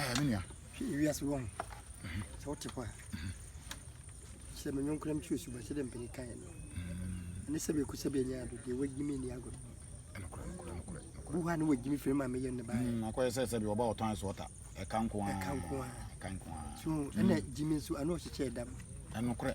ɛɛ me nua hwɛ wiase wɔ ho sɛ wote hɔ a sɛ menyɔnkora mtu asuba sɛ dɛ mpani kaeɛ no ɛne sɛ bɛku sɛ bɛanya ado deɛ wagyi me nni agorɔ bu hɔ a ne wagyi me firi ma meyɛ ne baɛ mm, akɔyɛ sɛ sɛ bi wɔba wɔtɔn so ɔta ɛka nko a ɛka nko a ɛka nko a so ɛna gyi me nso ano ɔhyekyɛ ɛda mu ɛnokorɛ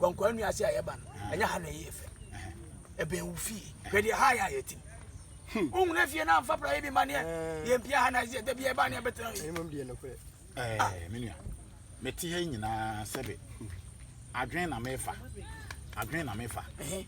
Wɔ nkwaa nua ase a yɛba no, ɛnyɛ ha na ɛyɛ fɛ. Ɛbɛn wo fie. Hwɛ deɛ ha yɛ a yɛtim. Hmm. Wohunu afie no amfa pra yi bi ma neɛ eh. yɛmpia ha na ɛsɛ da bia ɛba ne ɛbɛtena yi. Eh, ah. Me nua, mete ha nyinaa sɛbe adwene na mefa. Adwene na mefa.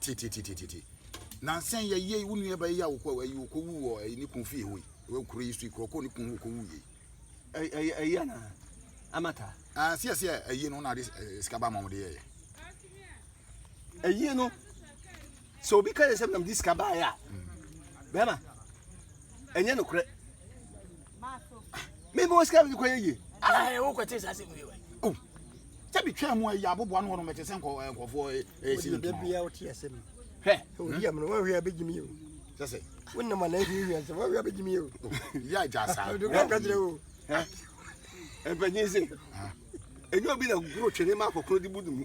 Tititititi. Nansa yi yɛyɛ yi, wo nua bɛyɛ a wokɔ ayi wokɔ wu wɔ ɛyi ne kun fie hɔ yi. Wɔ kuro yi so yi kuro kɔ ne kun wokɔ wu yɛ. Ɛyɛ ɛyɛ ana amata. Ah sɛ sɛ ɛyɛ no na de sika ba ma wɔn de yɛ yɛ. Ɛyɛ no sɛ obi ka yɛ sɛ nam de sika ba yɛ a bɛma ɛnyɛ no korɛ. mi bɛ o sika mi kɔ yɛ yie. ɛɛ wo kɔ te sa se mu yɛ wa. o sɛ bi twɛn mu ɛyɛ abobo ano wɔn mɛte sɛ nkɔ nkɔfoɔ ɛɛ si ne tuma. o de bɛ bi a o ti yɛ sɛ mi. hɛ o di yɛ mu na wɔn hwɛ bɛ jimi o. sɛsɛ. o nam ana ebi hwɛ sɛ wɔn hwɛ bɛ jimi o. yà ja sa. o de kɔ kajire o. ɛɛ ɛbɛnyin se. ɛnyɛ obi na goro twere ma akɔkoro di bu dumu.